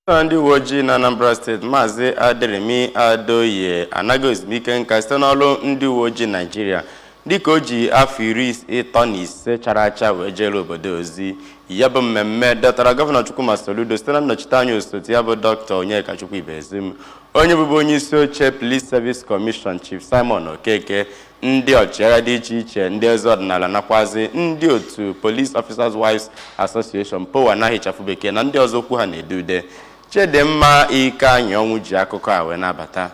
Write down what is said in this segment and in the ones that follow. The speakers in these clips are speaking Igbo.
na ndị uwe ojii na Anambra steeti maazị Aderemi Adeoye anago ezumike nka site n'ọrụ ndị uwe ojii Naijiria dịka o ji afọ iri ịtọ na ise chara acha wee jeere obodo ozi ya bụ mmemme dọtara gọvanọ Chukwuma Soludo site na nnọchite anya osote ya bụ Doctor Onyekachukwu Ibezim onye bụbu onye isi oche Police Service Commission Chief Simon Okeke ndị ọchịagha dị iche iche ndị eze ọdịnala nakwazi ndị otu Police Officers Wives Association POWA n'aha ịchafụ bekee na ndị ọzọ okwu ha na-ede ude Chidimma Ikeanyịọnwụ ji akụkọ a wee na-abata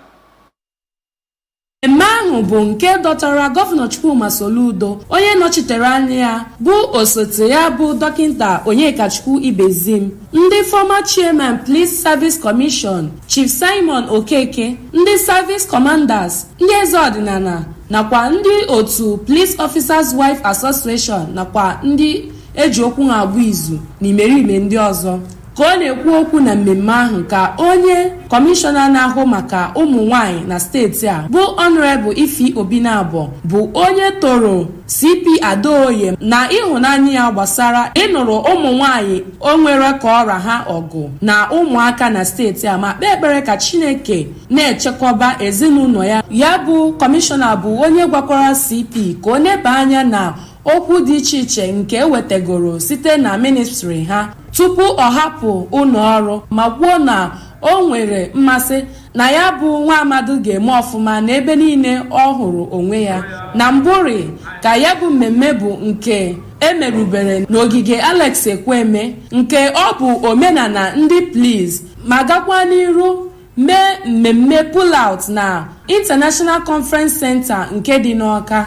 mmemme ahụ bụ nke dọtara gọvanọ Chukwuma Soludo onye nọchitere anya ya bụ osote ya bụ dọkịta Onyekachukwu Ibezim ndị former chairman Police Service Commission Chief Simon Okeke, ndị Service Commanders, ndị eze ọdịnala nakwa ndị otu Police Officers Wife Association nakwa ndị e ji okwu ha agba izu na imerime ndị ọzọ. Ka ọ na-ekwu okwu na mmemme ahụ ka onye kọmishọna na-ahụ maka ụmụ nwanyị na steeti a bụ Honourable Ify Obinabo bụ onye toro CP Adeoye na ịhụnanya ya gbasara ịnụrụ ụmụ nwanyị o nwere ka ọ ra ha ọgụ na ụmụaka na steeti a ma kpee ekpere ka Chineke na-echekọba ezinụlọ ya ya bụ kọmishọna bụ onye gwakwara CP ka o neba anya na okwu dị iche iche nke e wetagoro site na ministri ha tupu ọ hapụ ụlọ ọrụ ma kwuo na o nwere mmasị na ya bụ nwa amadu ga-eme ọfụma n'ebe niile ọ hụrụ onwe ya na mbụrị ka ya bụ mmemme bụ nke e merubere n'ogige Alex Ekwueme nke ọ bụ omenala ndị Police ma gakwa n'iru mee mmemme pull-out na International Conference Center nke dị n'Ọka